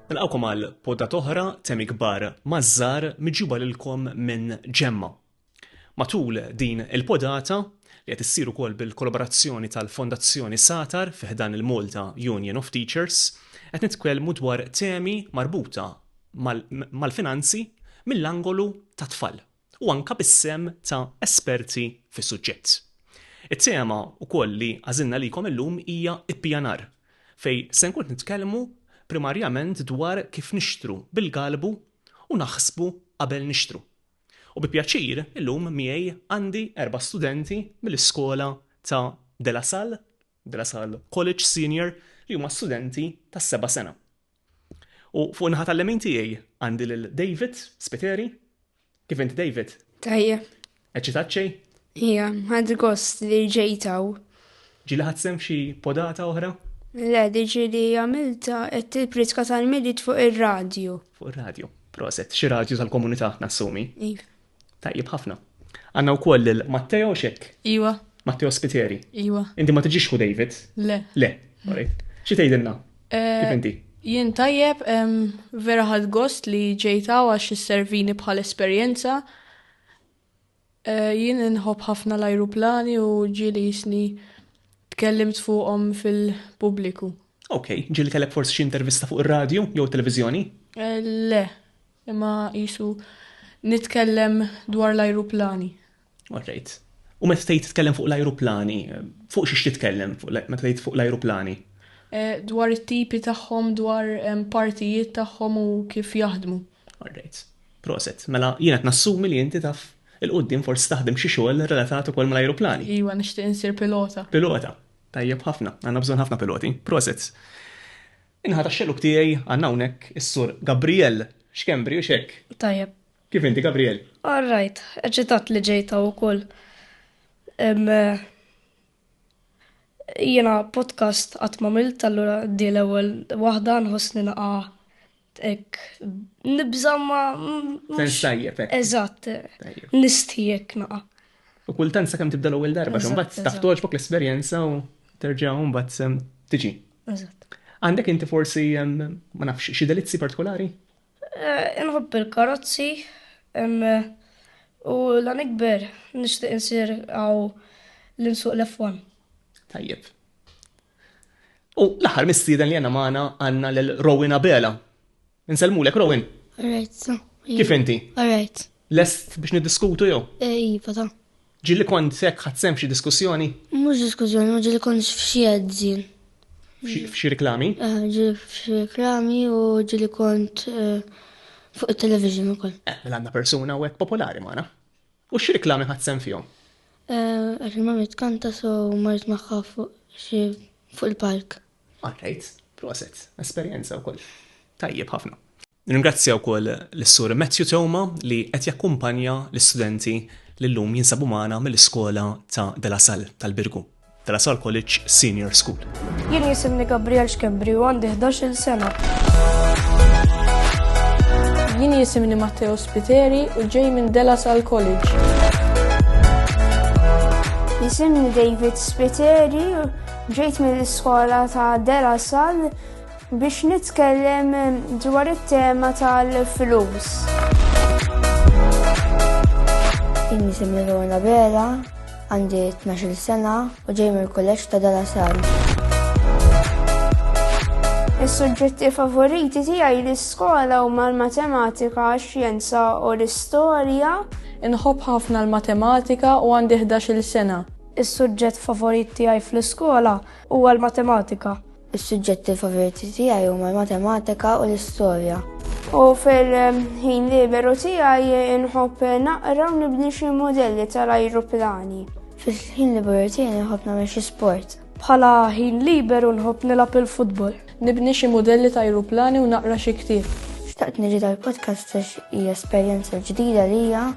Nilqawkom għal podda toħra temi kbar mażżar miġuba lilkom minn ġemma. Matul din il-podata li qed issir ukoll bil-kollaborazzjoni tal-Fondazzjoni Satar fiħdan il-Malta Union of Teachers, qed nitkellmu dwar temi marbuta mal-finanzi mill-angolu tat-tfal. u anke bis-sehem ta' esperti fis-suġġett. It-tema wkoll li għażilna għalikom illum hija ippjanar, fejn se nkun qed nitkellmu primarjament dwar kif nixtru bil-galbu u naħsbu qabel nixtru. U bi pjaċir illum miegħi għandi erba' studenti mill-iskola ta' De La Salle, De La Salle College Senior, li huma studenti tas-seba' sena. U fuq in-naħa tal-lemin tiegħi għandi lil David Spiteri. Kif inti David? Tajjeb. Eċċitat xejn? Ija, ħadd gost li ġejtaw. Ġili ħadd sem f'xi podata oħra? Le, diġi li għamilta qed il-pritka tal-midit fuq ir-radju. Fuq ir-radju. Proset, xi radju tal-komunità nassumi. Iva. Tajjeb ħafna. Għanna wkoll lil Matteo xek. Iwa. Matteo Spiteri. Iwa. Inti ma tiġix hu David? Le. Le. Xi tgħidilna? Eh, Kif inti? Jien tajjeb, vera ħad gost li ġejta għax servini bħal esperjenza. Eh, jien nħobb ħafna l-ajruplani u ġili jisni tkellimt fuqhom fil-pubbliku. Ok, ġili kellek forsi xi intervista fuq ir-radju jew televizjoni? Eh, le. Imma qisu nitkellem dwar l-ajruplani. All right. U meta tgħid titkellem fuq l-ajruplani, fuq xiex titkellem meta tgħid fuq l-ajruplani? Eh, dwar it-tipi tagħhom, dwar partijiet tagħhom u kif jaħdmu. All right. Proset, mela jiena nassumi li inti taf il-qoddim forsi taħdem xi xogħol relatat ukoll mal-ajruplani. Iwa, nixtieq insir pilota. Pilota. Tajjeb ħafna, għandna bżonn ħafna piloti. Proset. In-naħa tax-xellug tiegħi għandna hawnhekk is-Sur Gabriel Schembri, hux hekk? Tajjeb. Kif inti, Gabriel? All right. Eċitat li ġejt hawn ukoll. Jiena podcast qatt m'għamilt, allura di l-ewwel waħda nħossni naqa' ek nibża ma. Sens tajjeb. Eżatt. Nistijek naqa. U kultant sa' kem tibda l-ewwel darba, xumbat taħtoġ bok l-esperjenza u terġa' mbagħad tiġi. Eżatt. Għandek inti forsi, ma nafx, xi delizzi partikolari? Eh, inħobb il-karozzi, u la nikber nixtieq insir għaw l-insuq l-F1. Tajjeb. U l-aħħar mistieden li għandna magħna għandna l Rowena Bela. Insellmulek Rowan. Alright, so. Kif inti? Alright. Lest biex niddiskutu jew? Eh, iva ta. Ġili kont sekk ħadd sem xi diskussjoni? Mhux diskussjoni, ma ġili kont f'xi edzin. F'xi reklami? Eh, ġili f'xi reklami u ġili kont eh, fuq it-television ukoll. Eh, mela għandna persuna u hekk popolari magħna. U xi reklami ħadd sem fihom? Eh, għax ma mitkanta so marrit magħha fuq xi fuq il-park. All right, proset, esperjenza wkoll. Tajjeb ħafna. Nirringrazzja wkoll lis-Sur Matthew Toma li qed jakkumpanja l-istudenti li llum jinsabu magħna mill-iskola ta' De La Salle tal-Birgu, De La Salle College Senior School. Jien jisimni Gabriel Xkembri u għandi 11-il sena. Jien jisimni Matteo Spiteri u ġej minn De La Salle College. Jisimni David Spiteri Ġejt mill-iskola ta' De La Salle biex nitkellem dwar it-tema tal-flus. Inni semmi Lorna Bera, għandi 12 sena u ġej mill-kolleġġ ta' De La Salle. Is-suġġetti favoriti tiegħi l-iskola huma l-matematika, x-xjenza u l-istorja. Inħobb ħafna l-matematika u għandi 11-il sena. Is-suġġett favorit tiegħi fl-iskola huwa l-matematika. Is-suġġetti favoriti tiegħi huma l-matematika u l-istorja. U fil-ħin liberu tiegħi nħobb naqra u nibni xi modelli tal-ajruplani. Fil-ħin liberu tiegħi nħobb nagħmel xi sport. Bħala ħin liberu nħobb nilgħab il-futbol. Nibni xi modelli ta' ajruplani u naqra xi ktieb. Xtaqt niġi tal-podcast għax hija esperjenza ġdida lija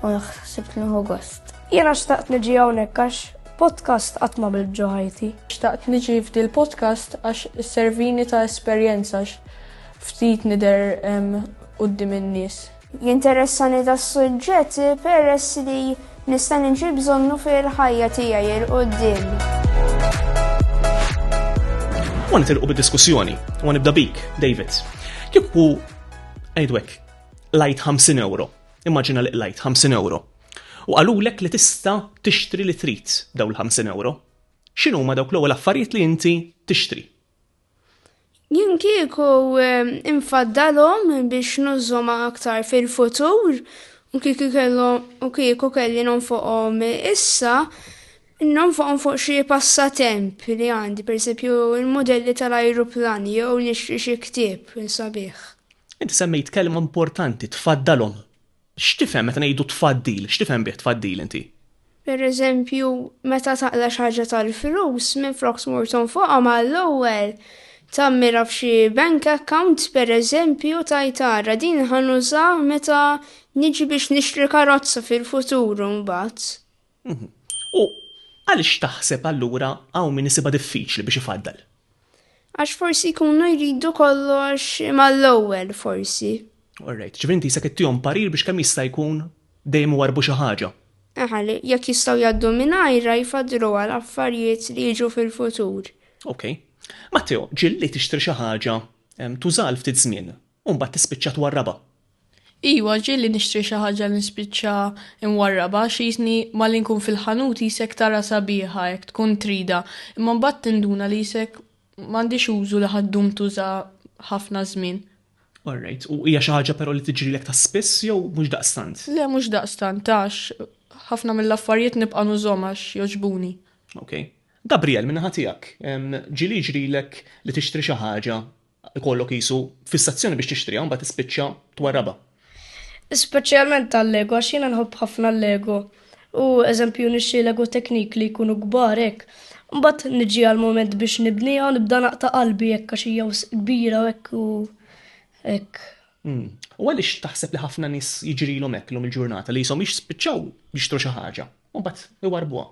u naħseb li nieħu gost. Jiena xtaqt niġi hawnhekk għax podcast qatt ma bilt ġo ħajti. Xtaqt niġi f'dil podcast għax isservini ta' esperjenza għax ftit nidher quddiem in-nies. Jinteressani das-suġġett peress li nista' niġi bżonnu fil-ħajja tiegħi 'l quddiem. U nitilqu bid-diskussjoni, u nibda bik, David. Kieku għajdwek, lajt 50 euro. Immaġina li lajt 50 euro. U qalulek li tista' tixtri li trid b'dawn il-ħamsin ewro. X'inhuma dawk l-ewwel affarijiet li inti tixtri? Jien kieku ehm, infaddalhom biex nużhom aktar fil-futur u kieku kellhom u kieku kelli nonfoqhom issa, nonfoqhom fuq xi passatemp li għandi, pereżempju l-mudelli tal-ajruplan jew nixtri xi ktieb sabiħ. Inti semmejt kelma importanti tfaddalhom. X'tifhem meta ngħidu tfaddil? X'tifhem bih tfaddil inti? Pereżempju, meta taqla' xi ħaġa tal-flus, minflok tmur tonfoqha mal-ewwel tagħmilha f'xi bank account pereżempju tgħid ara din ħa nużaha meta niġi biex nixtri karozza fil-futur imbagħad. U għaliex taħseb allura hawn min isibha diffiċli biex ifaddal? Għax forsi jkunu jridu kollox mal-ewwel forsi. Alright, ġifieri inti jisek ittihom parir biex kemm jista' jkun dejjem iwarbu xi ħaġa. Aha, li jekk jistgħu jgħaddu mingħajrha jfaddlu għal affarijiet li jiġu fil-futur. Ok. Matteo, ġilli tixtri xi ħaġa tużal ftit żmien, u mbagħad tispiċċa twarrabha. Iwa, ġieli nixtri xi ħaġa li nispiċċa nwarrabha għax jisni malli nkun fil-ħanut jisek tarha sabiħa hekk tkun tridha, imma mbagħad tinduna li jisek m'għandhiex użu li ħa ddum tuża ħafna żmien. All right, u hija xi ħaġa però li tiġrilek ta' spiss jew mhux daqstant? Le mhux daqstant għax ħafna mill-affarijiet nibqa' nużhom għax jogħġbuni. Ok. Gabriel, min-naħa tiegħek, ġieli jiġrilek li tixtri xi ħaġa ikollok qisu fissazzjoni biex tixtriha u mbagħad tispiċċa twarrabha. Speċjalment tal-Lego għax jiena nħobb ħafna l-Lego u eżempju nixtri Lego Technique li jkunu kbar hekk. Mbagħad niġi għal moment biex nibniha u nibda naqta' qalbi hekk għax hija kbira u hekk u hekk. Hmm. U għaliex taħseb li ħafna nies jiġrilhom hekk lum il-ġurnata li jisom jispiċċaw jixtru xi ħaġa u mbagħad iwarbuha.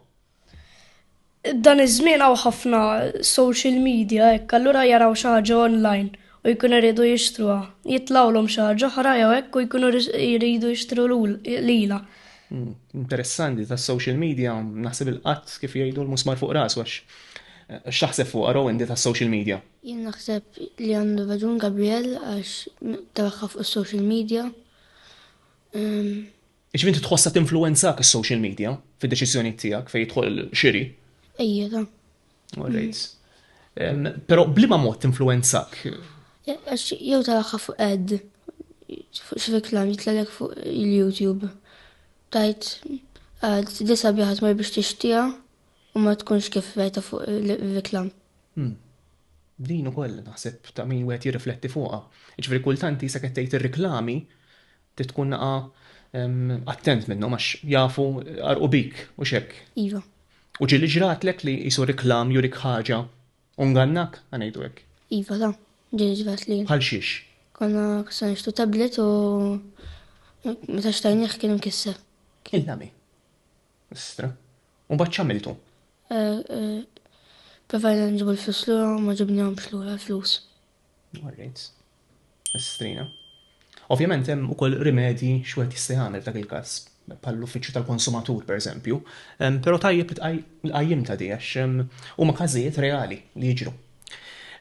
Dan iż-żmien hawn ħafna social media hekk allura jaraw xi ħaġa online u jkunu jridu jixtruha. Jitlgħulhom xi ħaġa oħra jew hekk u jkunu jridu jixtru lilha. Hmm, interessanti ta' social media naħseb il-qatt kif jgħidu l-musmar fuq ras għax eh, x'taħseb fuq għaraw inti ta' social media? Jien naħseb li għandu raġun Gabriel għax tabakka fuq social media. Ehm, Jiġifieri inti tħossha tinfluwenzak is-social media fid-deċiżjonijiet tiegħek fejn jidħol xiri? Ejjeda. Alright. Però bliema mod tinfluwenzak? Għax jew taraha fuq ad, fuq xi reklam jitlalek fuq il-YouTube. Tajt għad disa biħat ma biex tixtija u ma tkunx kif rajta fuq il-reklam. Hmm. Din ukoll naħseb ta' min wieħed jirrifletti fuqha. Ġifieri kultanti sa kettejt ir-reklami Trid tkun naqa' attent minnhom għax jafu għarqu bik, hux hekk? Iva. U ġieli ġratlek li qisu riklam jurik ħaġa u ngannak, ħa ngħidu hekk? Iva ta, ġieli ġratli. Bħal xiex? Konna se nixtru tablet u meta xtajnieh kien imkisser. Illa mi? Istra. U mbagħad x'għamiltu? Eh, eh, provajna nġibu l-flus lura ma ġibnihomx lura l-flus. Alright. Estrina. Ovvjament hemm ukoll rimedji x'wieħed jista' jagħmel f'dak il-każ, bħall-uffiċċju tal-konsumatur pereżempju, però tajjeb li qajjim ta' di għax huma każijiet reali li jiġru.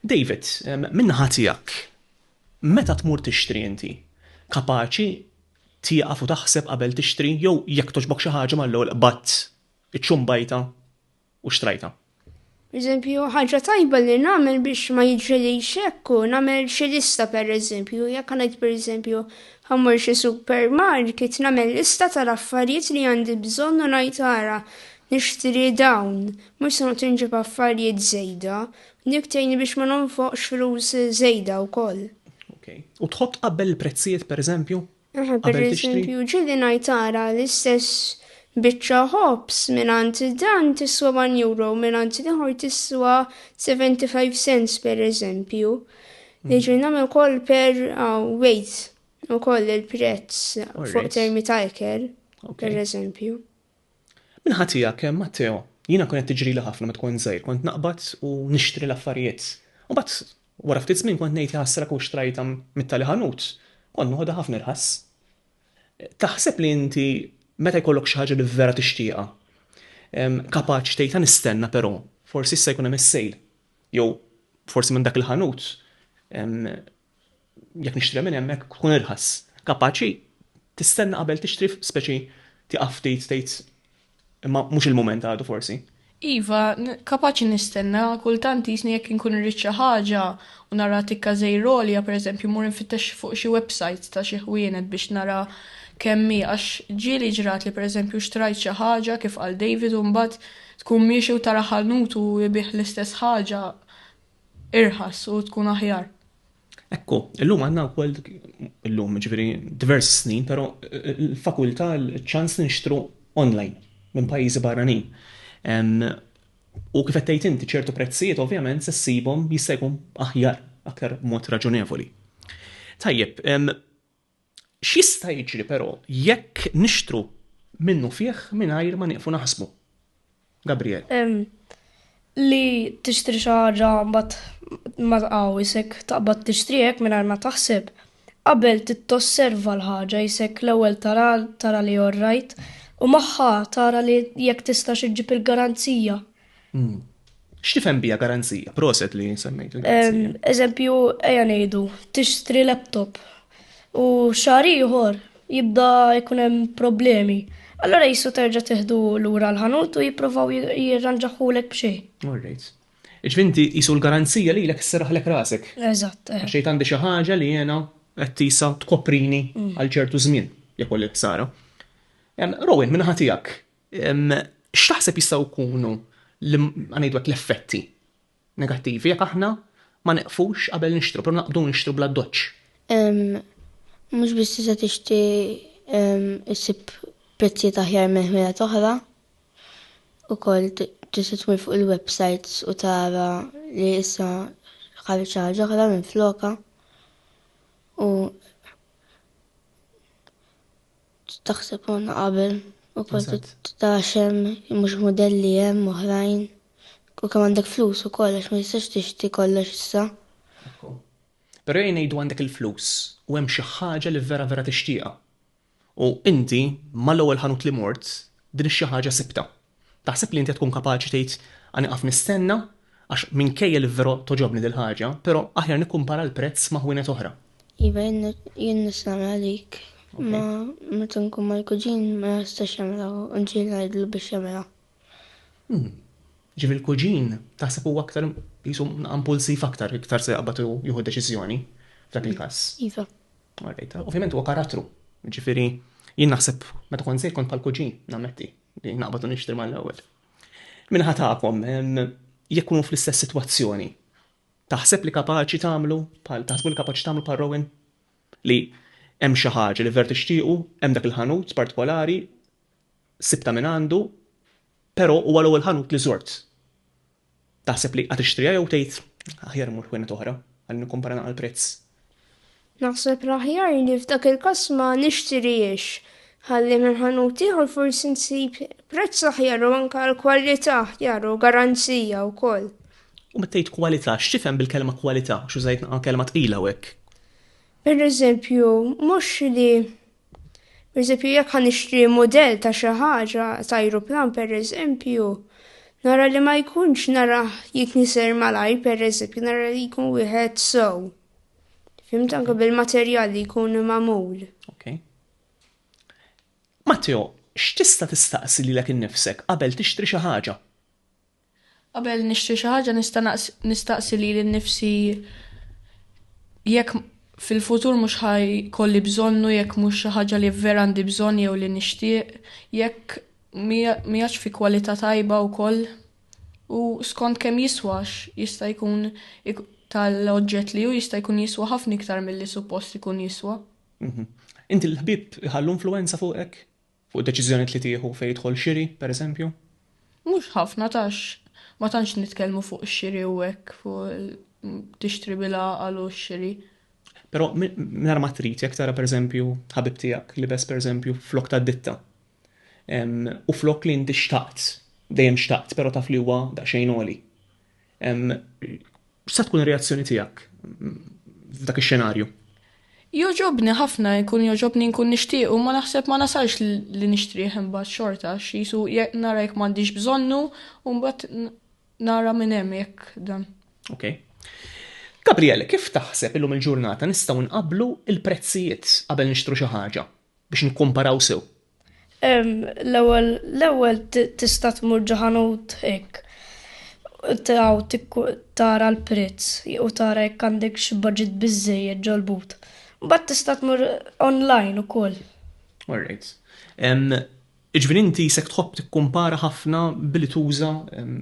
David, min-naħa tiegħek, meta tmur tixtri inti, kapaċi tieqaf u taħseb qabel tixtri jew jekk togħġbok xi ħaġa mal-ewwel qbadt iċ-ċumbajta? u xtrajtha. Eżempju, ħaġa tajba li nagħmel biex ma jiġrilix hekk u nagħmel xi lista pereżempju, jekk ngħid pereżempju ħammur xi supermarket nagħmel lista tal-affarijiet li għandi bżonn u ngħid ara nixtri dawn, mhux se noqgħod inġib affarijiet żejda, dik tgħinni biex ma nonfoqx flus żejda wkoll. Okay. U tħodd tqabbel il-prezzijiet pereżempju? Aha, per eżempju, ġili ngħid ara l-istess biċċa ħobs mingħand dan tiswa 1 euro, mingħand l-ieħor tiswa 75 cents per eżempju. Mhm. Jiġri nagħmel ukoll per ah, weight ukoll il-prezz fuq termi ta' eker, per eżempju. Min-naħa tiegħek, Matteo, jiena kienet tiġrili ħafna meta kont żgħir, kont naqbad u nixtri l-affarijiet. Imbagħad wara ftit żmien kont ngħid jaħasra kieku xtrajtha mit-tali ħanut, kont noħodha ħafna irħas. Taħseb li inti meta jkollok xi ħaġa li vera tixtieqha, kapaċi tgħidha nistenna però, forsi issa jkun hemm is-sale, jew forsi minn dak il-ħanut jekk nixtri minn hemmhekk tkun irħas. Kapaċi tistenna qabel tixtri speċi tieqaf ftit tgħid imma mhux il-mument għadu forsi. Iva, kapaċi nistenna, kultant jisni jekk inkun irrid xi ħaġa u nara tikka żejr għolja pereżempju mmur infittex fuq xi websites ta' xi ħwienet biex nara kemm hi għax ġieli ġratli pereżempju xtrajt xi ħaġa kif qal David u mbagħad tkun miexi u tara ħanut u jbigħ l-istess ħaġa irħas u tkun aħjar. Ekku, illum għandna wkoll illum ġifieri diversi snin, però eh, l-fakultà l-ċans nixtru online minn pajjiżi barranin. U kif qed tgħid inti ċertu prezzijiet ovvjament se ssibhom jista' jkun aħjar aktar mod raġunevoli. Tajjeb, X'jista' jiġri però jekk nixtru minnufih mingħajr ma nieqfu naħsbu? Gabriel. Li tixtri xi ħaġa mbagħad ma tqaw isek taqbad tixtriha hekk mingħajr ma taħseb. Qabel trid tosserva l-ħaġa isek l-ewwel tara tara li orrajt u magħha tara li jekk tistax iġġib il-garanzija. Hmm. X'tifhem bija garanzija? Proset li semmejt il-garanzija. Eżempju, ejja ngħidu, tixtri laptop u xahar ieħor jibda jkun hemm problemi. Allora jissu terġa' teħdu lura l-ħanut u jipprovaw jirranġaħulek b'xejn. Alright. Iġvinti jisu l-garanzija li l-ek s-seraħlek rasek. Eżatt. Eh. Għaxejt għandi xi ħaġa li jena qed tisa tkoprini mm. għal ċertu żmien jekk li ħsara. Rowan minn ħatijak, X'taħseb jistgħu jkunu l-effetti negattivi jekk aħna ma neqfux qabel nixtru, però naqbdu nixtru bla ddoċċ? Mhux biss tista' tixtri ssib prezzijiet aħjar minn ħwienet oħra, ukoll tista' tmur fuq il-websajts u tara li issa ħareġ xi ħaġa oħra minflokha u Taħseb konna qabel u kont titgħax hemm mhux mudelli hemm oħrajn. U kemm għandek flus ukoll għax ma tistax tixtri kollox issa. Ekku. Però jgħid ngħidu għandek il-flus u hemm xi ħaġa li vera vera tixtieqha. U inti mal-ewwel ħanut li mort din ix-xi ħaġa sibtha. Taħseb li inti qed tkun kapaċi tgħid, Għa nieqaf nistenna, għax minkejja li verò togħġobni dil-ħaġa, però aħjar nikkumpara l-prezz ma' ħwienet oħra? Iva, jien nista' nagħmilha dik, imma meta nkun mal-kuġin ma jistax jagħmilha u nġieli ngħidlu biex jagħmilha. Hmm. Ġifieri l-kuġin taħseb huwa aktar jisu impulsiv aktar, iktar se jaqbad jieħu deċiżjoni f'dak il-każ. Iva. Ovvjament huwa karattru. Ġifieri jien naħseb meta kont se jkun bħal kuġin, nammetti. Naqbad u nixtri mal-ewwel. Minħa tagħkom, jekk kunu fl-istess sitwazzjoni, taħseb li kapaċi tagħmlu bħal taħsbu li kapaċi tagħmlu bħal Rowan? Li hemm xi ħaġa li ver tixtiequ, hemm dak il-ħanut partikolari, sibta minn għandu, però huwa l-ewwel ħanut li żort. Taħseb li għatixtriha jew tgħid aħjar immur ħwienet oħra ħalli nikkumpara naqra l-prezz? Naħseb l-aħjar li f'dak il-każ ma nixtirihiex ħalli minn ħanut ieħor forsi nsib prezz aħjar u anke l-kwalità aħjar u garanzija wkoll. U meta tgħid kwalità, x'tifhem bil-kelma kwalità? Għax użajt naqra kelma tqila hawnhekk. Pereżempju, mhux li Pereżempju, jekk ħa nixtri mudell ta' xi ħaġa, ta' ajruplan pereżempju, nara li ma jkunx narah jitniser malajr pereżempju, nara li jkun wieħed sew. Fimt anke bil-materjal li jkun magħmul. Okay. Matteo, x'tista' tistaqsi lilek innifsek qabel tixtri xi ħaġa? Qabel nixtri xi ħaġa nista' nistaqsi lili nnifsi jekk fil-futur mhux ħa jkolli bżonnu, jekk mhux xi ħaġa li vera għandi bżonn jew li nixtieq, jekk mhijiex fi kwalità tajba wkoll u skont kemm jiswa għax jista' jkun tal-oġġett li hu jista' jkun jiswa ħafna iktar milli suppost ikun jiswa. Inti l-ħbieb iħallu influwenza fuqek? Fuq id-deċiżjonijiet li tieħu fejn jidħol xiri, pereżempju? Mhux ħafna għax ma tantx nitkellmu fuq ix-xiri u hekk, fuq tixtri bil-għaqal u x-xiri. Però mingħajr ma trid jekk tara pereżempju ħabib tiegħek libes pereżempju flok ta' ditta. U flok li inti xtaqt, dejjem xtaqt, però taf li huwa daqsxejn għoli. X'sa tkun ir-reazzjoni tiegħek f'dak ix-xenarju? Joġobni ħafna jkun joġobni nkun nixtieq u ma naħseb ma nasalx li nixtrih imbagħad xorta x'isu nara jekk m'għandix bżonnu u mbagħad nara minn hemm jekk dan. Ok. Gabriel, kif taħseb illum il-ġurnata nistgħu nqabblu l-prezzijiet qabel nixtru xi ħaġa biex nikkumparaw sew? L-ewwel l-ewwel tista' tmur ġo ħanut hekk taw tara l-prezz u tara jekk għandekx budget biżżejjed ġol-but. Mbagħad tista' tmur online ukoll. All right. Jiġifieri inti jisek tħobb tikkumpara ħafna billi tuża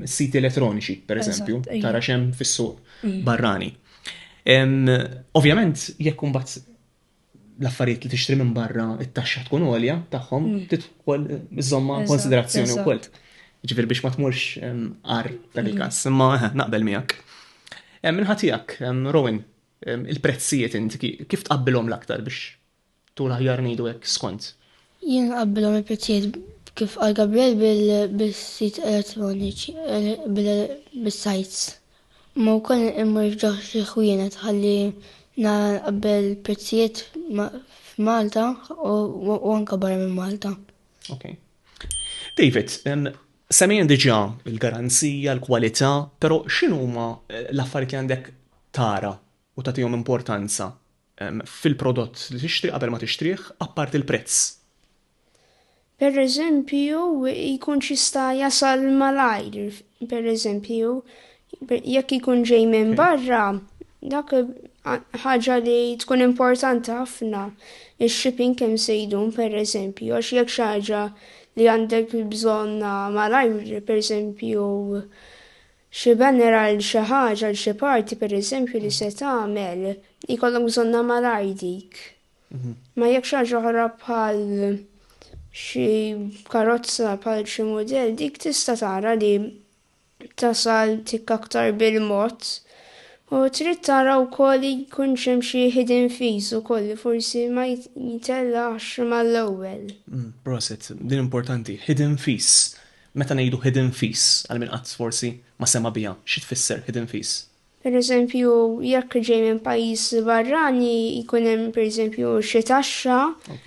s-siti elettroniċi, pereżempju, tara x'hemm fis-suq barrani. Ovvjament jekk imbagħad l-affarijiet li tixtri minn barra it-taxxa tkun għolja tagħhom mm. tidħol iżomma konsiderazzjoni wkoll. Ġifier biex ma tmurx għar dan il-każ, mm. imma eh, naqbel miegħek. Minħatijak, Rowan, il-prezzijiet inti kif tqabbilhom l-aktar biex tul aħjar ngħidu hekk skont? Jien qabbilhom il-prezzijiet kif għal Gabriel bil-sit elettroniċi, eh, bil-sajts, Imma wkoll immur f'ġo xi ħwienet ħalli nara nqabbel il-prezzijiet f'Malta u anke barra minn Malta. Ok. David, semmejn diġà l-garanzija, l-kwalità, però x'inhuma eh, l-affarijiet li għandek tara u tagħtihom importanza fil-prodott li tixtri qabel ma tixtrih, apparti l-prezz. Pereżempju, jkunx jista' jasal malajr, pereżempju, jekk ikun ġej minn barra, dak ħaġa li tkun importanti ħafna, ix-shipping kemm se jdum, pereżempju, għax jekk xi ħaġa li għandek bżonnha malajr, pereżempju, Xi banner għal xi ħaġa, għal xi party pereżempju li se tagħmel, jkollok bżonnha malajr dik. Ma jekk xi ħaġa oħra bħal xi karozza bħal xi mudell dik tista' tara li tasal tik aktar bil-mod. U trid tara wkoll li jkun hemm xi hidden fees ukoll li forsi ma jitellax mal-ewwel. Proset, din importanti, hidden fees. Meta ngħidu hidden fees, għal min qatt forsi ma sema' biha, xi tfisser hidden fees? Pereżempju, jekk ġej minn pajjiż barrani jkun hemm pereżempju xi taxxa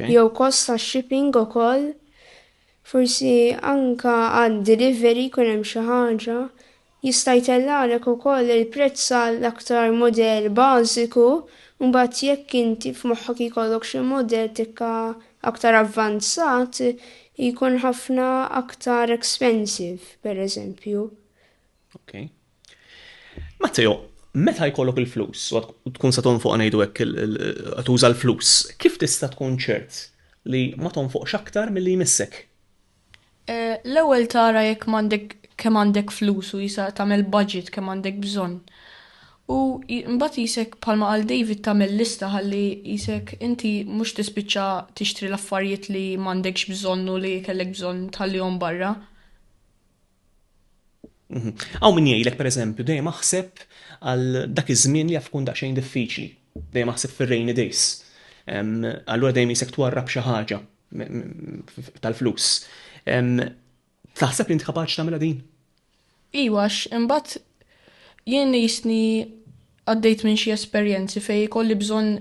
jew kost tax-shipping ukoll. Forsi anke għad-delivery jkun hemm xi ħaġa. Jista' jtellgħalek ukoll il-prezz għal aktar mudell bażiku, u mbagħad jekk inti f'moħħok jkollok xi mudell tikka aktar avvanzat, jkun ħafna aktar expensive, pereżempju. Ok. Matteo, meta jkollok il-flus, u tkun se tonfoq ngħidu hekk tuża l-flus, kif tista' tkun ċert li ma tonfoqx aktar milli jmissek? L-ewwel tara jekk m'għandek kemm għandek flus u jisa tagħmel budget kemm għandek bżonn. U mbagħad qisek bħalma qal David tagħmel lista ħalli qisek inti mhux tispiċċa tixtri l-affarijiet li m'għandekx bżonn u li kellek bżonn tħallihom barra. Hawn min jgħidlek pereżempju dejjem aħseb għal dak iż-żmien li jaf ikun daqsxejn diffiċli, dejjem aħseb fir-rainy days. Allura dejjem isek twarrab xi ħaġa tal-flus. Taħseb li int kapaċi tagħmilha din? Iwa, imbagħad jien jisni għaddejt minn xi esperjenzi fej kolli bżonn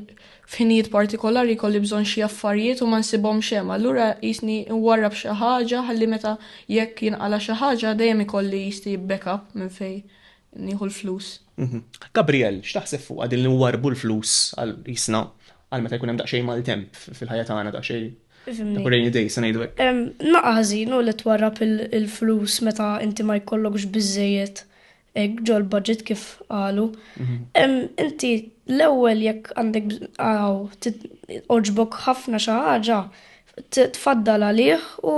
f'ħinijiet partikolari kolli bżonn xi affarijiet u ma nsibhom xem. Allura jisni nwarrab xi ħaġa ħalli meta jekk jinqala xi ħaġa dejjem ikolli jisni backup minn fej nieħu l-flus. Mhm. Gabriel, x'taħseb fuq din li warbu l-flus għal jisna għal meta jkun hemm daqsxejn maltemp fil-ħajja tagħna daqsxejn rainy day se ngħidu hekk. Naqażin u li twarrab il-flus meta inti ma jkollokx biżejjed hekk ġol budget kif qalu. Mhm. Inti l-ewwel jekk għandek għaw oġbok ħafna xi ħaġa tfaddal għalih u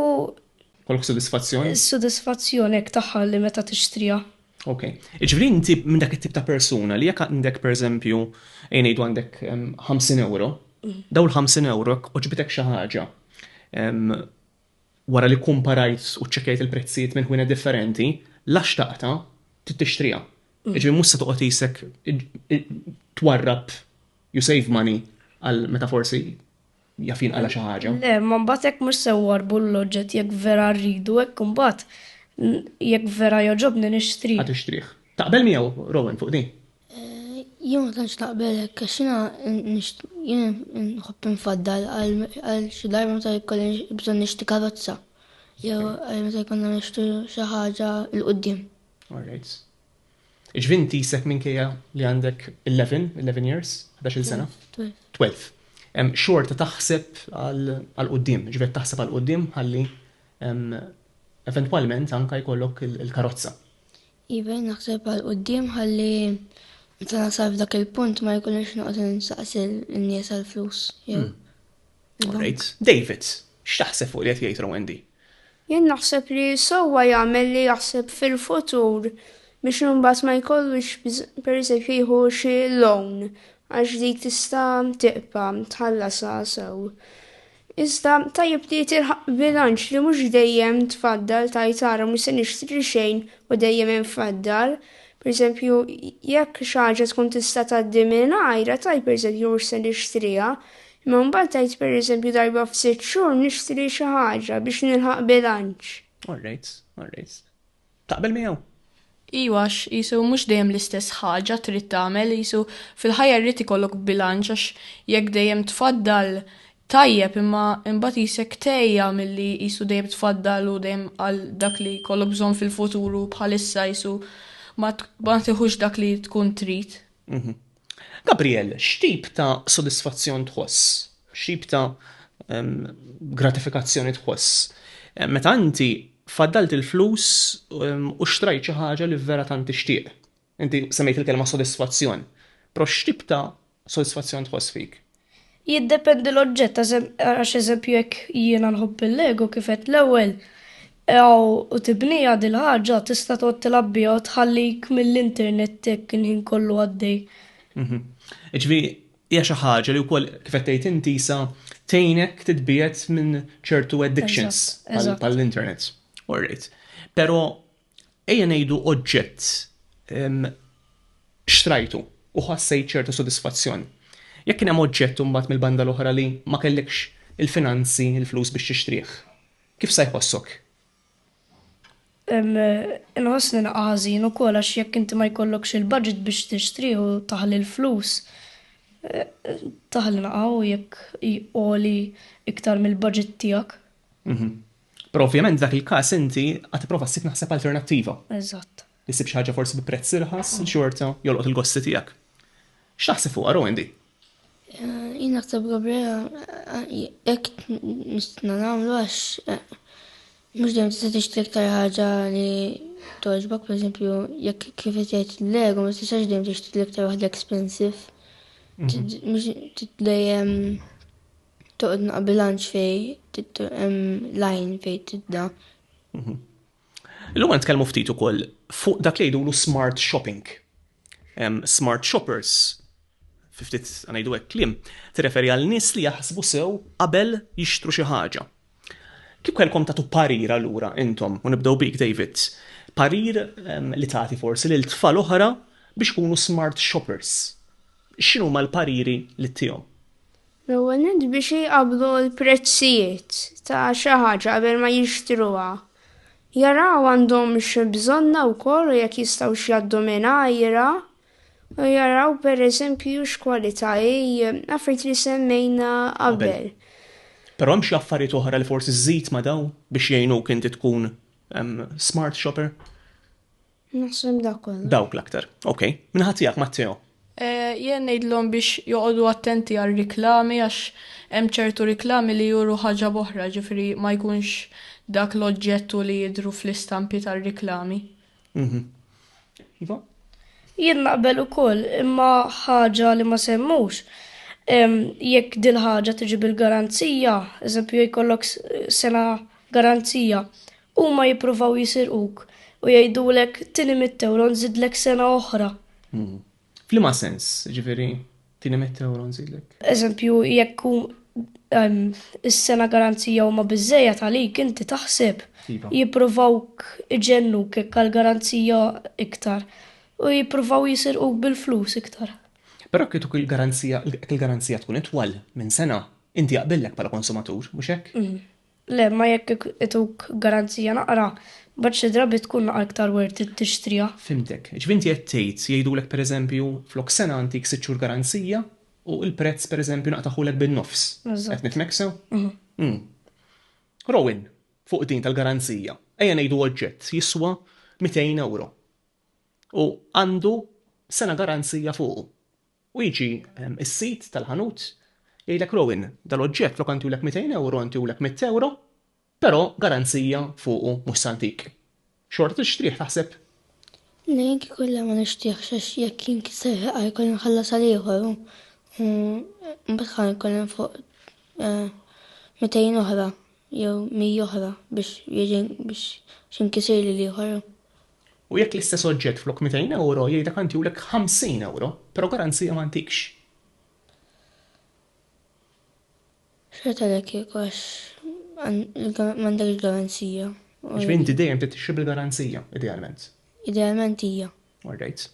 Kollok sodisfazzjon? Sodisfazzjon hekk tagħha li meta tixtriha. Ok. Jiġifieri inti minn dak it-tip ta' persuna li jekk għandek pereżempju, ejja ngħidu għandek 50 ewro, dawn il-50 ewro jekk għoġbitek xi ħaġa wara li kkumparajt u ċċekkjajt il-prezzijiet minn ħwienet differenti, la xtaqtha, trid tixtriha. Jiġifieri mhux se toqgħod isek twarrab you save money għal meta forsi Jaf jinqala xi ħaġa. Le, ma mbagħad hekk mhux se warbu l-oġġett jekk vera rridu hekk imbagħad jekk vera jogħġobni nixtrih. Ħa tixtrih. Taqbel miegħu Rowan fuq din? Jien ma tantx naqbel hekk għax jiena jien nħobb infaddal għal xi darba meta jkolli bżonn nixti karozza. Jew meta jkollna nixtru xi ħaġa l-qudiem. All right. Jiġifieri inti issek minkejja li għandek 11, 11 years, 11-il sena. 12. 12. Em, xorta taħseb għal għal qudiem, ġifieri qed taħseb għal qudiem ħalli em, eventwalment anka jkollok il- il-karozza. Iva naħseb għal qoddim ħalli meta nasal f'dak il-punt ma jkunx noqgħod insaqsi n-nies għal flus. jew- Alright. Davids, x'taħseb fuq li qed jgħid Rowendi? Jien naħseb li sewwa jagħmel li jaħseb fil-futur biex imbagħad ma jkollux pereżempju jieħu xi loan għax dik tista' tiqpa' tħallasha sew. Iżda tajjeb li tilħaq bilanċ li mhux dejjem tfaddal tajt ara mhux se nixtri xejn u dejjem hemm faddal. Pereżempju, jekk xi ħaġa tkun tista' tgħaddi mingħajra tajb pereżempju mhux se nixtriha, Imma mbagħad tgħid pereżempju darba f'sitt xhur nixtri xi ħaġa biex nilħaq bilanċ. All right, all right. Taqbel miegħu? Iva għax qisu mhux dejjem l-istess ħaġa trid tagħmel, qisu fil-ħajja jrid ikollok bilanċ għax jekk dejjem tfaddal tajjeb imma imbagħad qisek tgħejja milli qisu dejjem tfaddal u dejjem għal dak li jkollok bżonn fil-futuru bħalissa qisu ma tiħux dak li tkun trid. Mhm. Gabriel, x'tip ta' sodisfazzjon tħoss, x'tip ta' gratifikazzjoni tħoss meta inti faddalt il-flus u xtrajt xi ħaġa li vera tant tixtieq? Inti semmejt il-kelma sodisfazzjon, però x'tip ta' sodisfazzjon tħoss fik? Jiddependi l-oġġett għax eżempju jekk jiena nħobb il-lego kif għedt l-ewwel u tibniha dil-ħaġa tista' tqgħod tilgħab biha u tħallik mill-internet hekk il-ħin kollu għaddej. Jiġifieri hija xi ħaġa li wkoll kif qed tgħid inti sa tgħinek titbiegħed minn ċertu addictions bħall-internet. Orrejt. Però Ejja ngħidu oġġett xtrajtu u ħassejt ċerta sodisfazzjon. Jekk kien hemm oġġett imbagħad mill-banda l-oħra li ma kellekx il-finanzi, il-flus biex tixtrih, kif sa jħossok? Inħossni naqqa' ħażin ukoll għax jekk inti ma jkollokx il-budget biex tixtrih u taħli l-flus, taħli naqqa' u jekk għoli iktar mill-budget tiegħek. Però ovvjament f'dak il-każ inti għad tipprova ssib naħseb alternattiva. Eżatt. Li ssib xi ħaġa forsi bi prezz irħas li xorta jolqot il-gosti tiegħek. X'taħseb fuqha Rowan di? Jien naħseb Gabriela hekk nistna nagħmlu għax mhux dejjem tista' tixtri iktar ħaġa li toġbok, pereżempju, jekk kif qed jgħid lego ma tistax dejjem tixtri l-iktar waħda expensive. Mhux dejjem Toqgħod naqa' bilanċ fej hemm lajn fej tidda. Mhm. Illum għan tkellmu ftit ukoll fuq dak li jgħidulu smart shopping. Smart shoppers, ftit għanajdu hekk klim, tirreferi għal nies li jaħsbu sew qabel jixtru xi ħaġa. Kieku kellkom tagħtu parir allura intom, u nibdew bik David, parir li tagħti forsi lil tfal oħra biex ikunu smart shoppers, x'inhuma l-pariri li ttihom? L-ewwel nett biex iqabblu l-prezzijiet ta' xi ħaġa qabel ma jixtruha. Jaraw għandhomx bżonnha wkoll u jekk jistgħux jgħaddu mingħajrha. U jaraw per eżempju x'kwalità affarijiet li semmejna qabel. Però hemm xi affarijiet oħra li forsi żżid ma' daw biex jgħinuk inti tkun smart shopper? Naħseb dak Dawk l-aktar. Ok. Minħatt tiegħek Matteo. Eh, jien ngħidlhom biex joqogħdu attenti għal riklami għax hemm ċertu riklami li juru ħaġa boħra, ġifieri ma jkunx dak l-oġġettu li jidhru fl-istampi tar-riklami. Iva? Jien naqbel ukoll, imma ħaġa li ma semmux, jekk dil-ħaġa tiġi bil-garanzija, eżempju jkollok sena garanzija, huma jippruvaw jisirquk u jgħidulek tini mit-tewro nżidlek sena oħra. F'liema sens, ġifieri, tieni mitt ewro nżidlek. Eżempju, jekk hu em, is-sena garanzija huma biżejjed għalik inti taħseb Iva. jippruvawk iġennuk hekk għal garanzija iktar u jippruvaw jisirquk bil-flus iktar. Però kieku il-garanzija il-garanzija tkun itwal minn sena, inti jaqbillek bħala konsumatur, mhux hekk? Le, imma jekk ituk garanzija naqra, mbagħad xi drabi tkun naqra iktar worth it tixtriha. Fhimtek. Jiġifieri inti qed tgħid jgħidulek pereżempju flok sena ntik sitt xhur garanzija u l-prezz pereżempju naqtaħulek bin-nofs. Qed nifhmek sew? Rowan, fuq din tal-garanzija, ejja ngħidu oġġett jiswa mitejn ewro u għandu sena garanzija fuqu. U jiġi s-sid tal-ħanut jgħidlek Rowan, dal-oġġett flok għantulek 200 ewro ntulek mitt ewro, però garanzija fuqu mhux s'antik. Xorta tixtrih taħseb? Le jien kieku le ma nixtrihx għax jekk jinkisser ħa jkolli nħallas għal ieħor u mbagħad ħa jkolli nfoq 200 oħra jew 100 oħra biex jiġi biex jinkisirli l-ieħor. U jekk l-istess oġġett flok 200 ewro jgħidek għantihulek 50 ewro, però garanzija ma ntikx. X'qed għalhekk jekk għax m'għandekx garanzija? Ġifieri inti dejjem trid tixtri bil-garanzija, idealment. Idealment hija. All right.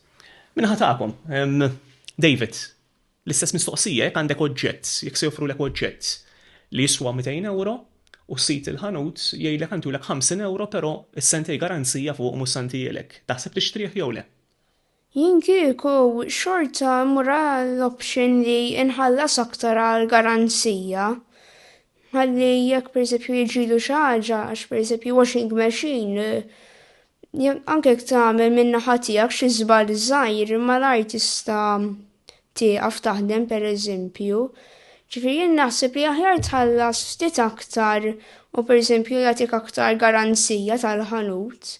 Minħa tagħkom, David. L-istess mistoqsija jekk għandek oġġett, jekk se joffrulek oġġett li jiswa 200 ewro u sid il-ħanut jgħidlek għantihulek 50 ewro però s-sentej garanzija fuqu mhux se ngħantihielek, taħseb tixtrih jew le? Jien kieku xorta mmur għall-option li nħallas aktar għall-garanzija. Ħalli jekk pereżempju jiġrilu xi ħaġa għax pereżempju washing machine Anke jekk tagħmel min-naħa tiegħek xi żball żgħir, malajr tista' tieqaf taħdem pereżempju. Ġifieri jien naħseb li aħjar tħallas ftit aktar u pereżempju jagħtik aktar garanzija tal-ħanut.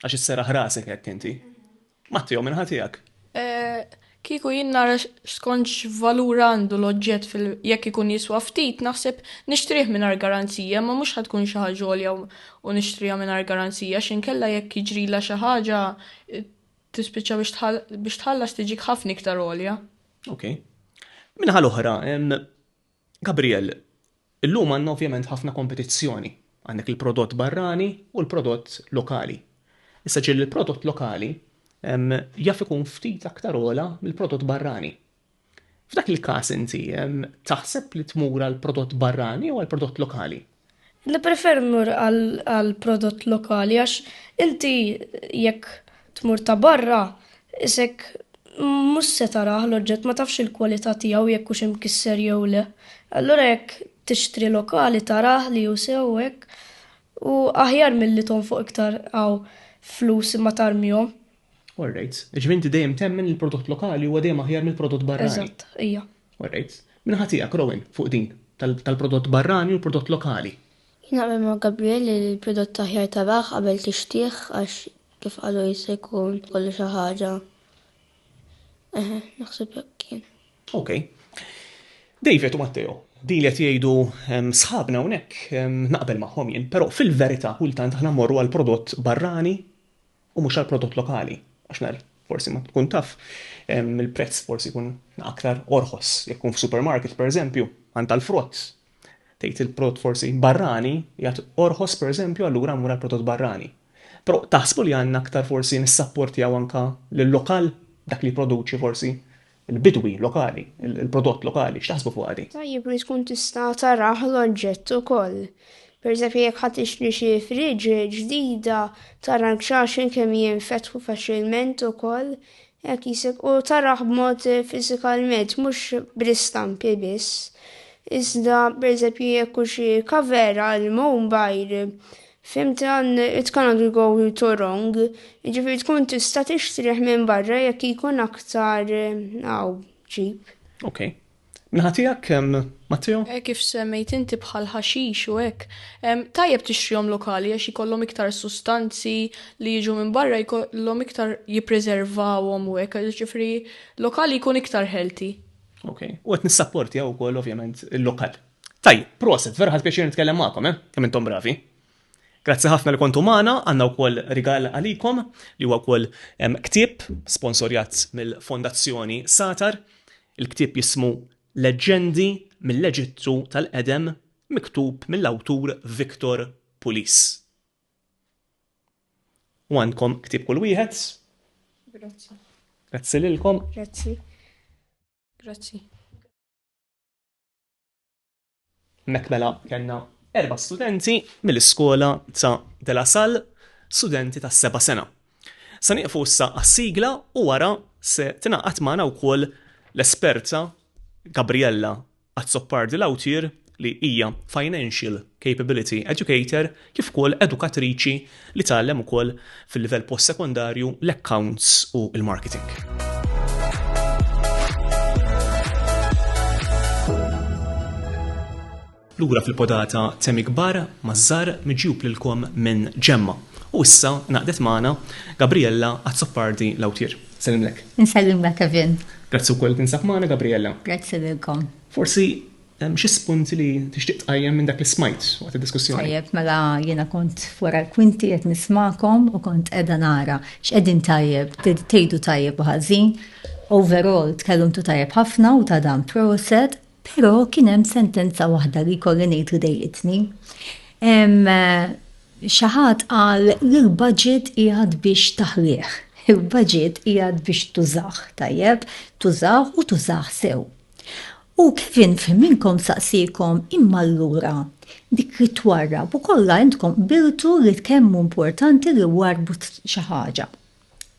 Għax isserraħ rasek hekk inti. Tmattihom minn ħatijak. Kieku jien nara skont x'valur għandu l-oġġett fil jekk ikun jiswa ftit naħseb nixtrih mingħajr garanzija imma mhux ħa tkun xi ħaġa għolja u nixtriha mingħajr garanzija x'inkella jekk jiġrilha xi ħaġa tispiċċa biex biex tħallas tiġik ħafna iktar għolja. Okej. Min-naħa l-oħra, Gabriel, Illum għandna ovvjament ħafna kompetizzjoni, għandek il-prodott barrani u l-prodott lokali. Issa ġieli l-prodott lokali jaf ikun ftit aktar ogħla mill-prodott barrani. F'dak il-każ inti taħseb li tmur għall-prodott barrani jew għall-prodott lokali? Nippreferi mmur għal prodott lokali għax inti jekk tmur ta' barra isek mhux se tarah l-oġġett ma tafx il-kwalità tiegħu jekk hux imkisser jew le. Allura jekk tixtri lokali tarah li hu sew u hekk u aħjar milli tonfoq iktar hawn flus imma tarmihom. All right. Jiġifieri inti dejjem temmen li l-prodott lokali huwa dejjem aħjar mill-prodott barrani. Eżatt, ija. All right. Min ħa tiegħek, Rowan, fuq din, tal-prodott barrani u l-prodott lokali? Jien naqbel ma' Gabriel li l-prodott aħjar taraħ qabel tixtrih għax kif qalu jista' jkun kollu xi ħaġa. Eħe, naħseb hekk kien. Ok. David u Matteo, din li qed jgħidu sħabna hawnhekk naqbel magħhom jien, però fil-verità kultant aħna mmorru għal prodott barrani u mhux għall-prodott lokali għax naqra forsi ma tkun taf il-prezz forsi jkun aktar orħos jekk tkun f'supermarket pereżempju għand tal-frott tgħid il-prodott forsi barrani jgħid orħos pereżempju allura mmur għall-prodott barrani. Però taħsbu li għandna aktar forsi nissapportjaw anka lil lokal dak li jipproduċi forsi Il-bidwi lokali, il-prodott lokali, x'taħsbu fuqha di? Tajjeb li tkun tista' tarah l-oġġett ukoll. Pereżempju jekk ħa tixtri xi fridge ġdida tara l-kxaxen kemm jinfetħu faċilment ukoll hekk jisek u tarah b'mod fiżikalment mhux bl-istampi biss. Iżda pereżempju jekk hu xi cover għal mowbajl Fhimt dan, it cannot be go to wrong, jiġifieri tkun tista' tixtrih minn barra jekk jkun aktar hawn cheap. Ok. Min-naħa tiegħek, Matteo? Hekk kif semmejt inti bħal ħaxix u hekk, tajjeb tixtrihom lokali għax jkollhom iktar sustanzi li jiġu minn barra jkollhom iktar jippreservawhom u hekk, jiġifieri lokali jkun iktar healthy. Ok. U qed nissapportja wkoll ovvjament il-lokal. Tajjeb, proset, vera ħadt pjaċir nitkellem magħkom, eh? Kemm intom bravi. Grazzi ħafna li kontu magħna, għandna wkoll rigal għalikom li huwa wkoll ktieb sponsorjat mill-Fondazzjoni Satar. Il-ktieb jismu Leġġendi mill-Eġittu tal-Qedem miktub mill-awtur Victor Pulis. U għandkom ktieb kull wieħed. Grazzi. Grazzi lilkom. Grazzi. Grazzi. Hemmhekk mela kellna erba' studenti mill-iskola ta' De La Salle, studenti tas-seba' sena. Se nieqfu issa għas-sigla u wara se tingħaqad magħna wkoll l-esperta Gabriella Azzopardi Lautier li hija Financial Capability Educator kif ukoll edukatriċi li tgħallem ukoll fil-livell post-sekondarju l-accounts u l-marketing. Lura fil-podata temi kbar maż-żar miġjub lilkom minn Ġemma. U issa naqdet magħna Gabriella Azzopardi l-awtir. Sellimlek. Insellimlek Kevin. Grazzi wkoll kien sab magħna Gabriella. Grazzi lilkom. Forsi Hemm xi spunti li tixtieq tqajjem minn dak li smajt waqt id-diskussjoni? Tajjeb, mela jiena kont wara l-kwinti qed nismagħkom u kont qiegħda nara x'qegħdin tajjeb, tgħidu tajjeb u ħażin. Overall tkellmtu tajjeb ħafna u ta' dan proset, però kien hemm sentenza waħda li jkolli ngħid li dejjitni. Xi ħadd qal li l-budget qiegħed biex taħlih. Il-budget qiegħed biex tużah, tajjeb, tużah u tużah sew. U Kevin f'ħin minnkom saqsiekom, Imma allura, dik li twarrab u kollha intkom qbiltu li kemm hu importanti li warrbu xi ħaġa.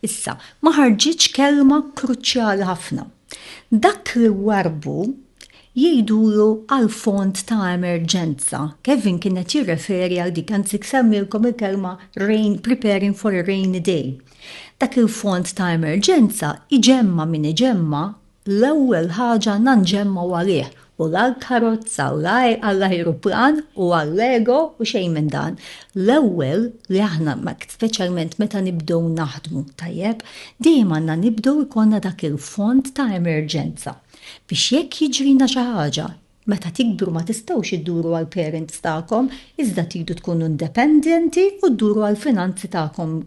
Issa, ma ħarġitx kelma kruċjali ħafna. Dak li warrbu jgħidulu għall-fond ta' emerġenza. Kevin kien qed jirreferi għal dik, anzi semmilkom il-kelma rain, preparing for a rainy day. Dak il-fond ta' emerġenza iġemma' min iġemma' L-ewwel ħaġa nandxemmgħu għalih u l-għall-karozza u l-ajruplan u għall-ego u xejn minn dan. L-ewwel li aħna, speċjalment meta nibdew naħdmu, tajjeb, dejjem għandna nibdew ikollna dak il-fond ta' emerġenza biex jekk jiġrilna xi ħaġa, meta tikbru ma tistgħux idduru għall-parents tagħkom iżda tridu tkunu independenti u dduru għall-finanzi tagħkom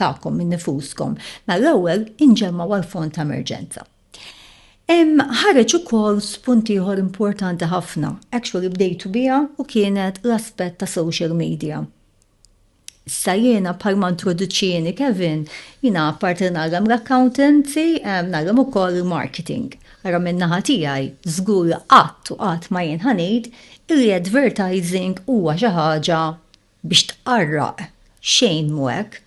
tagħkom minn nifuskom, mela l-ewwel inġemmgħu għal fond ta' emerġenza. Hemm ħareġ ukoll spunt ieħor importanti ħafna, actually bdejtu biha u kienet l-aspett ta' social media. Issa jiena bħalma introduċini Kevin, jiena apparti li nagħlem l-accountancy, nagħlem ukoll il-marketing. Ara minn naħa tiegħi, żgur qatt u qatt ma jien ħanid illi advertising huwa xi ħaġa biex tqarraq, xejn mhu hekk.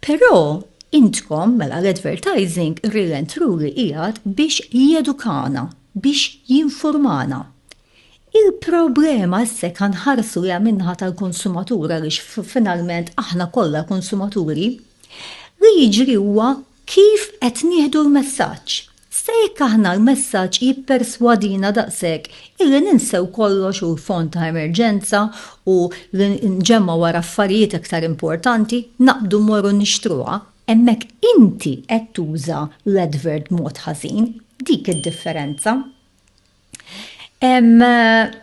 Però intkom, mela l-advertising really and truly qiegħed biex jedukana, biex jinfurmana. Il-problema issa jekk ħa nħarsu lejha min-naħa tal-konsumatur għaliex finalment aħna kollha konsumaturi, li jiġri huwa kif qed nieħdu l-messaġġ. Sa jekk aħna l-messaġġ jipperswadina daqshekk illi ninsew kollox u l-fond ta' emerġenza u li nġemgħu wara affarijiet iktar importanti, naqbdu mmorru nixtruha, hemmhekk inti qed tuża l-advert b'mod ħażin, dik id-differenza.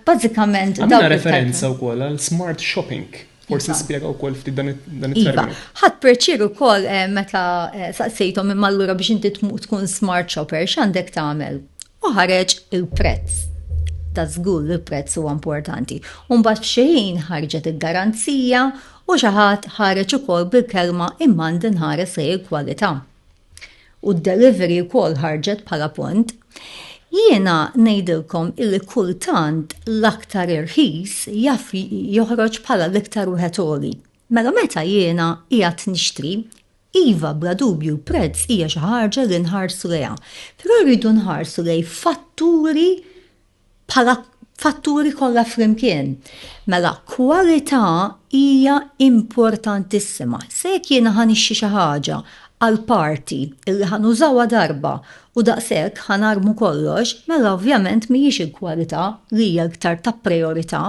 Bazzikament. Għamilna referenza wkoll għal smart shopping. Forsi iva. spjega wkoll ftit dan iva. it-terminu. Ħadd perċir ukoll eh, meta eh, saqsejthom imma allura biex inti tkun smart shopper x'għandek tagħmel? U ħareġ il-prezz. Da żgur li l-prezz huwa importanti. U mbagħad f'xejn ħarġet il-garanzija u xi ħadd ħareġ ukoll bil-kelma imma ndinħares lejn il-kwalità. u d-delivery wkoll ħarġet bħala punt, jiena ngħidilkom illi kultant l-aktar irħis jaf joħroġ bħala l-iktar wieħed għoli. Mela meta jiena qiegħed nixtri, iva bla dubju l-prezz hija xi ħaġa li nħarsu lejha, però rridu nħarsu lejn fatturi bħala fatturi kollha flimkien. Mela kwalità hija importantissima. Se jekk jiena ħa nixtri xi ħaġa għal party illi ħa nużawha darba u daqshekk ħa narmu kollox, mela ovvjament mhijiex il-kwalità li hija l-iktar ta' prijorità.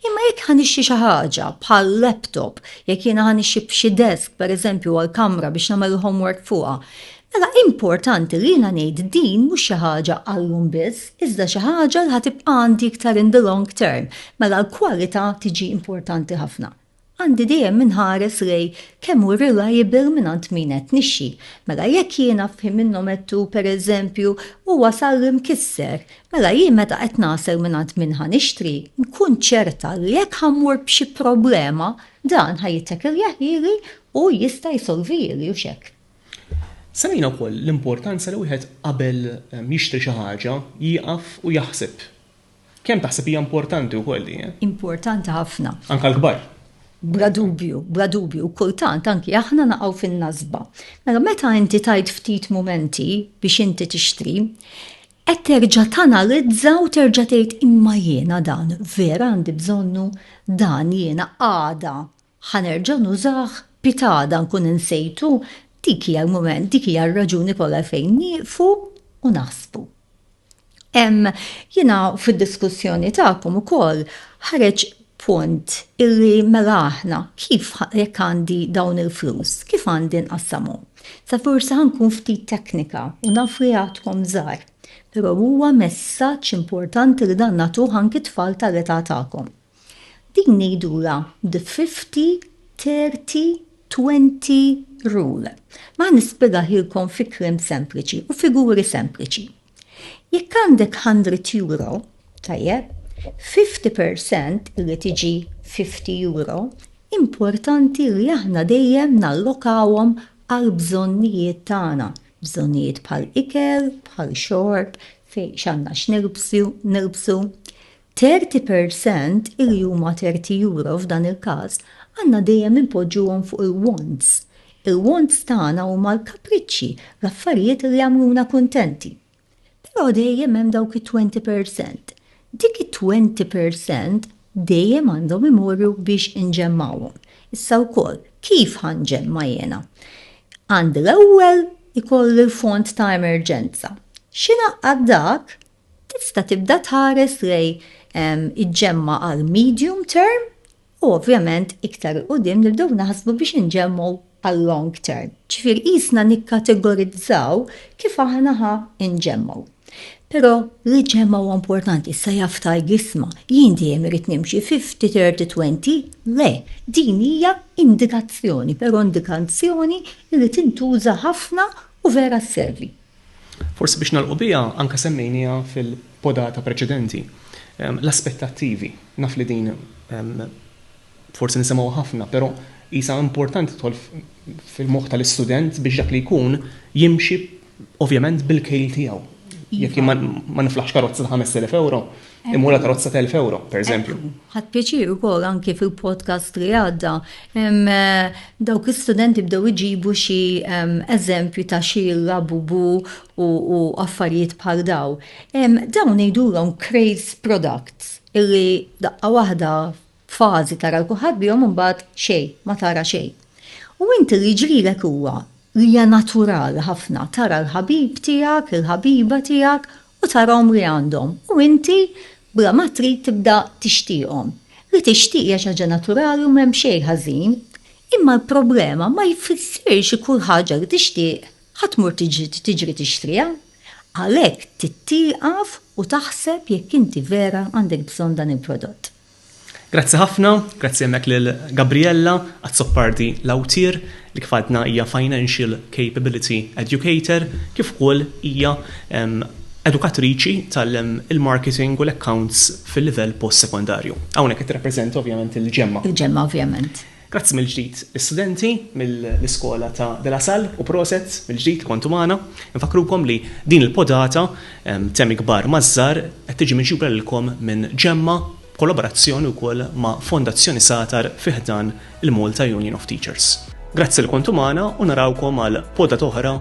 Imma jekk ħa nixtri xi ħaġa bħal laptop, jekk jiena ħa nixtri xi desk pereżempju għall-kamra biex nagħmel il-homework fuqha, Mela importanti li jiena ngħid din mhux xi ħaġa għallum biss, iżda xi ħaġa li ħa tibqa' għandi iktar in the long term, mela l-kwalità tiġi importanti ħafna. Għandi dejjem inħares lejn kemm hu reliable mingħand min qed nixxi. Mela jekk jiena f'ħin minnhom għedtu pereżempju u wasal li mkisser, mela jien meta qed nasel mingħand min ħa nixtri, nkun ċerta li jekk ħa mmur b'xi problema, dan ħa jittakiljaħ ili u jista' jsolvihili, hux hekk? Semmejna wkoll l-importanza li wieħed qabel jixtri xi ħaġa jieqaf u jaħseb. Kemm taħseb hija importanti wkoll di? Importanti ħafna. Anke l-kbar. Bla dubju, bla dubju, u kultant anki aħna naqgħu fin-nasba. Mela meta inti tajt ftit mumenti biex inti tixtri, qed terġa' tanalizza u terġa' tgħid imma jiena dan vera għandi bżonnu, dan jiena għada Ħa nerġa' nużah? Pitada nkun insejtu? Dik hija l-mument, dik hija r-raġuni kollha għalfejn nieqfu u naħsbu. Hemm, jiena fid-diskussjoni tagħkom ukoll ħareġ punt illi mela aħna kif jekk għandi dawn il-flus, kif għandi nqassamhom? Sa forsi ħa nkun ftit teknika u naf li għadkom żgħar, però huwa messaġġ importanti li dan nagħtuh anki t-tfal tal-età tagħkom. Din hi dura the fifty, thirty, twenty rule. Ma nispjegahielkom fi kliem sempliċi u figuri sempliċi. Jekk għandek hundred euro, tajjeb, fifty percent irid jiġi fifty euro, importanti li aħna dejjem nallokawhom għall-bżonnijiet tagħna, bżonnijiet bħal ikel, bħal xorb, fejn x'għandna x'nilbsu, Thirty per cent li huma thirty euro f'dan il-każ għandna dejjem inpoġġuhom fuq il-wants. Il-wants tagħna huma l-kapriċċi, l-affarijiet li jagħmluna kuntenti. Però dejjem hemm dawk it-twenty per cent. Dik it-twenty per cent dejjem għandhom imorru biex inġemmgħuhom. Issa wkoll, kif ħa nġemma' jiena? Għandi l-ewwel ikolli l-fond ta' emerġenza. X'ingħaqqad dak? Tista' tibda tħares lejn iġġemma' għal medium term u ovvjament iktar 'il quddiem nibdew naħsbu biex inġemmgħu għal long term. Ġifieri qisna nikkategorizzaw kif aħna ħa nġemmgħu. Però l-iġġemma' huwa importanti, issa jaf tgħid l-isma', jien dejjem irrid nimxi fifty, thirty, twenty, le, din hija indikazzjoni, però indikanzjoni li tintuża ħafna u vera sservi. Forsi biex nagħlqu biha, anke semmejnieha fil-podata preċedenti, l-aspettattivi. Naf li din forsi nisimgħuha ħafna, però qisha importanti tidħol fil-moħħ tal-istudent biex dak li jkun jimxi ovvjament bil-kejl tiegħu. Jekk ma niflaħx karozza ta' 5,000 euro, Imura karozza ta' 1000 euro, per eżempju. Ħadd pjaċir ukoll anki fil-podcast li għadda. Eh, dawk l-istudenti bdew iġibu xi eżempju ta' xi labubu u affarijiet bħal daw. Dawn ngħidulhom craze products illi daqqa waħda fażi tara l-kuħad bihom imbagħad xejn, ma tara xejn. U inti li ġrilek huwa li hija natural ħafna tara l-ħabib tiegħek, il-ħabiba tiegħek u tara għomri għandhom u inti bla ma trid tibda tixtieqhom. Li tixtieq hija xi ħaġa naturali u m'hemm xejn ħażin. Imma l-problema ma jfissirx li kull ħaġa li tixtieq ħa tmur tiġri tixtriha. Għalhekk trid tieqaf u taħseb jekk inti vera għandek bżonn dan il-prodott. Grazzi ħafna, grazzi hemmhekk lil Gabriella Azzopardi Lautier li kif għadna hija Financial Capability Educator kif ukoll hija edukatriċi tal-marketing u l-accounts fil-livell post-sekondarju. Hawnhekk qed tirrappreżenta ovvjament il-GEMMA. Il-GEMMA ovvjament. Grazzi mill-ġdid lis-studenti mill-Iskola ta' De La Salle u proset mill-ġdid li kontu magħna. Infakkrukom li din il-podata Temi Kbar maż-Żgħar qed tiġi miġjura lilkom minn Ġemma b'kollaborazzjoni wkoll ma' Fondazzjoni Satar fi ħdan il-Malta Union of Teachers. Grazzi li kontu magħna u narawkom għal podata oħra.